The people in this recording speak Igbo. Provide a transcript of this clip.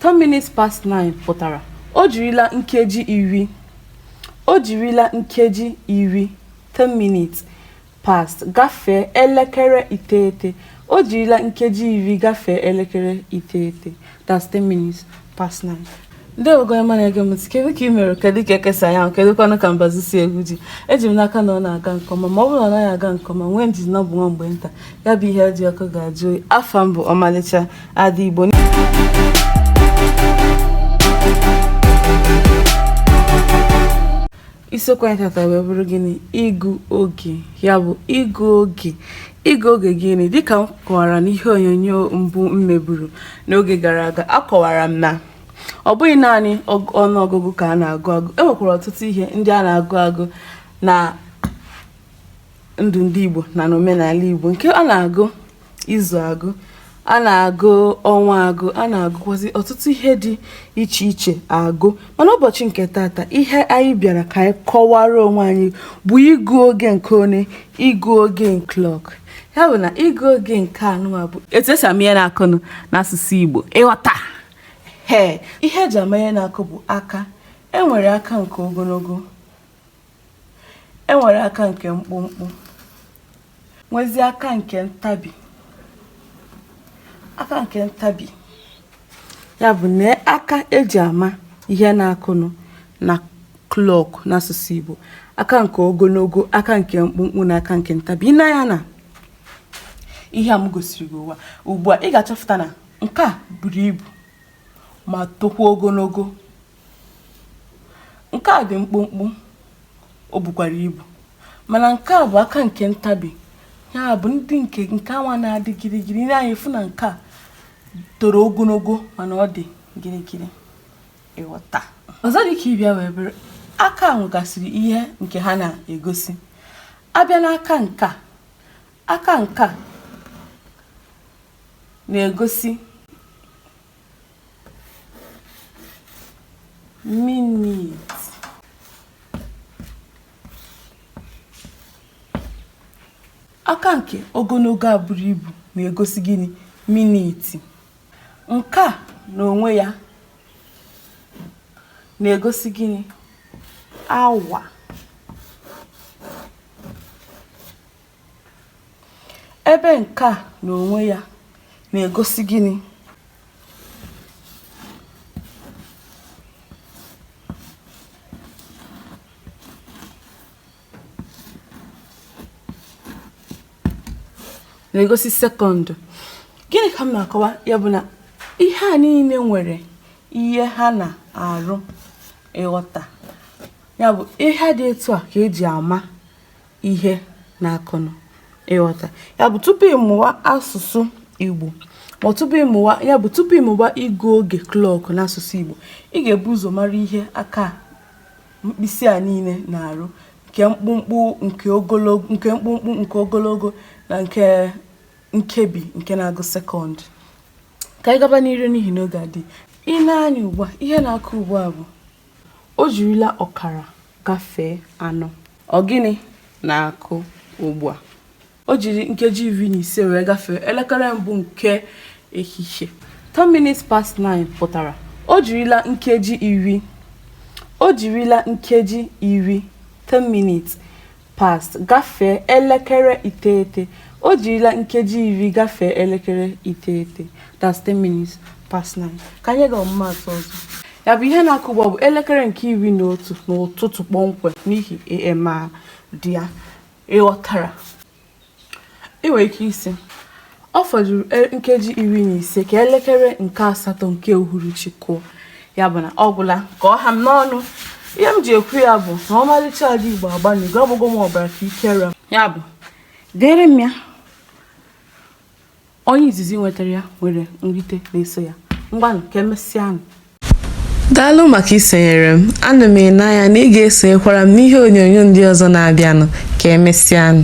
10 minutes past 9 pụtara o jirila nkeji iri o jirila nkeji iri 10 minutes past gafee elekere iteghete o jirila nkeji iri gafee elekere iteghete that's 10 minutes past 9 ndị Igbo ọma na-ege m ntị kedu ka ị mere kedu ka eke si anya anwụ kedu kwanụ ka mbazi si egwu ji eji m n'aka na ọ na-aga nke ọma ma ọ bụrụ na ọ naghị aga nke ọma nwee ndidi na ọ bụ nwa mgbe nta ya bụ ihe dị ọkụ ga-ajụ oyi afa m bụ ọmalịcha Ada Igbo isiokwu anyị tata wee bụrụ gịnị ịgụ oge ya bụ ịgụ oge ịgụ oge gịnị dịka m kọwara n'ihe onyonyo mbụ m meburu n'oge gara aga akọwara m na ọ bụghị naanị ọnụọgụgụ ka a na-agụ agụ e nwekwara ọtụtụ ihe ndị a na-agụ agụ na ndụ ndị Igbo na n'omenala Igbo nke a na-agụ izu agụ a na-agụ ọnwa agụ a na-agụkwazi ọtụtụ ihe dị iche iche agụ mana ụbọchị nke tata ihe anyị bịara ka anyị kọwara onwe anyị bụ ịgụ oge nke one ịgụ oge klọk ya bụ na ịgụ oge nke anụwa bụ etu e si ama ihe na-akụnụ n'asụsụ Igbo ị ghọta he ihe e ji ama ihe na-akụ bụ aka e nwere aka nke ogonogo E nwere aka nke mkpụmkpụ, nwezie aka nke ntabi. Aka nke ntabi ya bụ na aka e ji ama ihe na-akụnụ na klọk n'asụsụ Igbo. Aka nke ogonogo, aka nke mkpụmkpụ na aka nke ntabi. I nee anya n'ihe a m gosiri gị nwa ugbu a, ị ga-achọpụta na nke a buru ibu ma tokwa ogonogo. Nke a dị mkpụmkpụ, o bukwara ibu. Mana nke a bụ aka nke ntabi. Ya bụ ndị nke nke anwa na-adị gịrịgịrị. I nee anya ị fụ na nke a toro ogonogo mana ọ dị gịrịgịrị. Ị ghọta. Ọzọ dị ka ibe ya wee bụrụ aka a nwegasịrị ihe nke ha na-egosi. A bịa n'aka nke a, aka nke a na-egosi minit aka nke ogonogo a buru ibu na-egosi gịnị miniti nke a n'onwe ya na-egosi gịnị awa Ebe nke a n'onwe ya na-egosi gịnị? na-egosi sekọndụ gịnị ka m na-akọwa ya bụ na ihe a niile nwere ihe ha na-arụ ịghọta ya bụ ihe dị etu a ka eji ama ihe na-akụnụ ịghọta ya bụ tupu ịmụwa asụsụ Igbo ma ọ bụ tupu ịmụwa ịgụ oge klọk n'asụsụ Igbo ị ga-ebu ụzọ mara ihe aka mkpịsị a niile na-arụ nke mkpụmkpụ nke ogologo na nke nkebi nke na-agụ sekọndụ ka anyị gaba n'iru n'ihi na oge adị i nee anya ugbu a ihe na-akụ ugbu a bụ o jirila ọkara gafee anọ Ọ gịnị na-akụ ugbu a? O jiri nkeji iri na ise wee gafee elekere mbụ nke ehihie. 10 minutes past 9 pụtara o jirila nkeji iri o jirila nkeji iri 10 minutes past gafee elekere iteghete o jirila nkeji iri gafee elekere iteghete that's 10 minutes past 9 ka anyị gaa ọmụmaatụ ọzọ ya bụ ihe na-akụ ugbu a bụ elekere nke iri na otu n'ụtụtụ kpọmkwem n'ihi AM dị ya ịghọtara ị nwere ike ịsị ọ fọdụrụ e, nkeji iri na ise ka elekere nke asatọ nke uhuruchi kụọ ya bụ na ọ gwụla ka ọ ha m n'ọnụ ihe m ji ekwu ya bụ na ọmalịcha Ada Igbo agbanịgo ọgbụgwọ m ọbara ka ike ra ya bụ deere m ya Onye izizi nwetara ya nwere nrite na-eso ya. Ngwanụ ka emesịanụ. Daalụ maka isonyere m. Ana m ele anya na ị ga-esonyekwara m n'ihe onyonyo ndị ọzọ na-abịanụ. Ka emesịanụ.